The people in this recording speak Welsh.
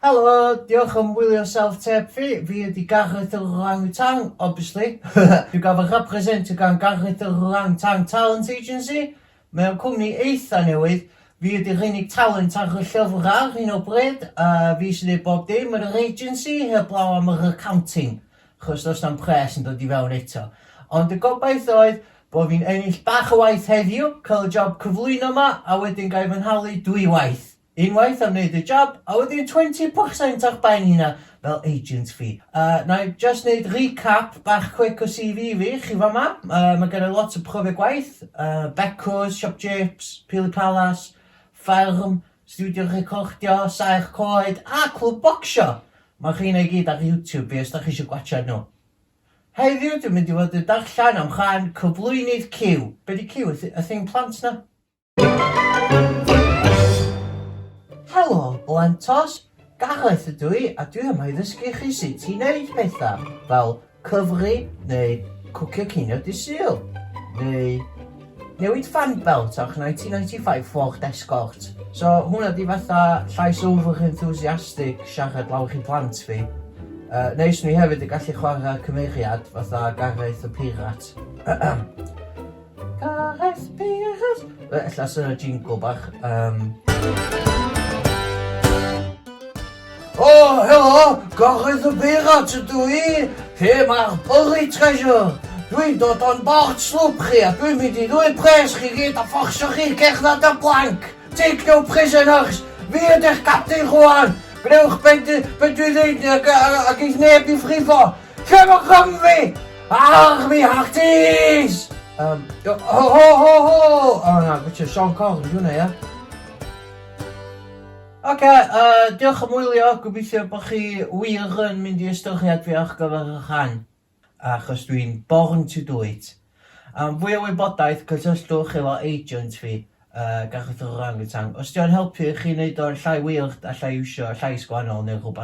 Helo, diolch am wylio self tape fi, fi ydi Gareth yr Orang-Utang, obviously. Dwi ga'l fy representio gan Gareth yr Orang-Utang Talent Agency, mae o'n cwmni eitha newydd, fi ydi'r unig talent ar y llyfr ar hyn o bryd, a fi sy'n neud bob dim yn yr agency, heblaw am yr accounting. achos does na'm pres yn dod i fewn eto. Ond y gobaith oedd bod fi'n ennill bach o waith heddiw, cael y job cyflwyno yma, a wedyn gael fy nhalu dwy waith. Unwaith am wneud y job, a wedyn 20% o'ch ben hynna fel agent fi. Uh, na i just wneud recap bach quick o CV fi, chi fa ma, uh, mae gen i lot o profiad gwaith, uh, Becos, Siop Japes, Pili Palace, Fferm, Stiwdio recordio, saer coed a clwb bocsio! Mae'r rheina i gyd ar YouTube fi os dach chi eisiau gwatsiad nhw. Heddiw dwi'n mynd i fod yn darllen am rhan cyflwynydd Cyw. Be di Cyw? Y thing plant na? Helo Blentos! Gareth ydw i a dwi yma i ddysgu chi sut i neud pethau, fel Cyfri neu cwcio cinio Dydd Sul? Neu newid fan belt o'ch 1995 Ford Escort? So hwnna di fatha llais overly enthusiastic siarad lawr i blant fi. Uh, neis mi hefyd y gallu chwarae cymeriad fatha Gareth y Pirat. Cahesp, cahesp. Fe, ella sy'n y jingle bach. Um... O, oh, helo, gorchys y beirat ydw i. Lle mae'r byrri treasure? Dwi'n dod o'n bort slwp chi a dwi'n mynd i ddwy pres chi gyd a fforsio chi cerdded y blanc. Take no prisoners. Fi ydych captain rwan. Gwnewch beth dwi ddweud ac eith neb i frifo. Cefn Cymru! Ach, mi hach tis! Um, ho, ho, ho, ho! O, oh, na, gwtio Sean Cong, di hwnna, ia? Oce, okay, uh, diolch am wylio, gobeithio bod chi wir yn mynd i ystyried fi ar gyfer y rhan, achos dwi'n born to do it. Am fwy o wybodaeth, cysylltwch efo agent fi, uh, Gareth yr Orangutan. Os diolch yn helpu chi wneud o'n llai weird, allai iwsio llais gwahanol neu rhywbeth.